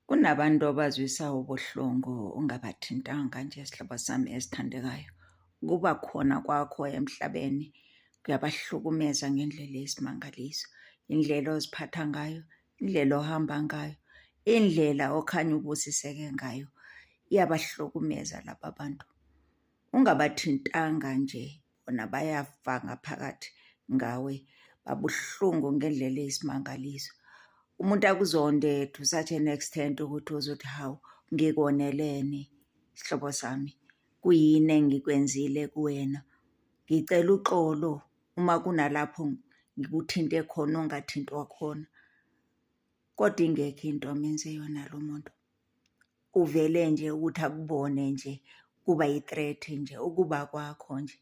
Kunabantu obazwisa ubuhlungu ungabathintanga nje sihlobo sami esithandekayo. Ukuba khona kwakho emhlabeni kuyabahlukumeza ngendlela eyisimangaliso. Indlela oziphatha ngayo, indlela ohamba ngayo, indlela okhanya ubusiseke ngayo iyabahlukumeza laba bantu. Ungabathintanga nje. bona bayafa ngaphakathi ngawe babuhlungu ngendlela eyisimangaliso umuntu akuzonde to such an extent ukuthi uzothi hawu ngikoneleni sihlobo sami kuyini engikwenzile kuwena ngicela uxolo uma kunalapho ngikuthinte khona ongathintwa khona kodwa ingekho into amenze yona lo muntu. Kuvele nje ukuthi akubone nje kuba yi-threat nje ukuba kwakho nje.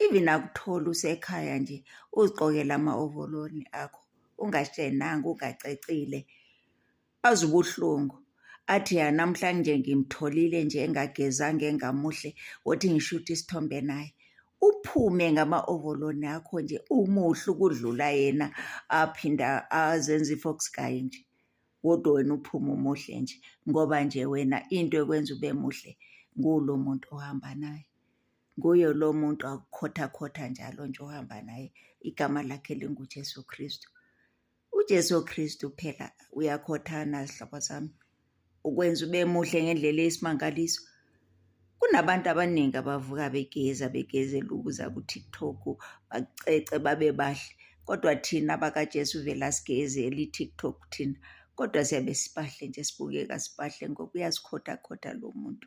Even akuthole usekhaya nje uzigqokele ama-ovololi akho ungashenanga, ungacecile, azwe ubuhlungu. Athi hha namhlanje ngimtholile nje engagezange engamuhle wothi ngishuthe isithombe naye. Uphume ngama-ovoloni akho nje umuhle ukudlula yena aphinde azenze i-fox guy nje. kodwa wena uphume umuhle nje ngoba nje wena into ekwenza ube muhle ngulo muntu ohamba naye nguye lo muntu akukhothakhotha njalo nje ohamba naye igama lakhe linguJesu Kristu uJesu Kristu phela uyakhothana zihlobo zami ukwenza ube muhle ngendlela eyisimangaliso Kunabantu abaningi abavuka begeza begezela ukuza ku-TikTok, bacece babe bahle. Kodwa thina bakaJesu vele asigezeli i-TikTok thina, kodwa siyabe sibahle nje sibukeka sibahle ngoba uyasikhothakhoda lo muntu.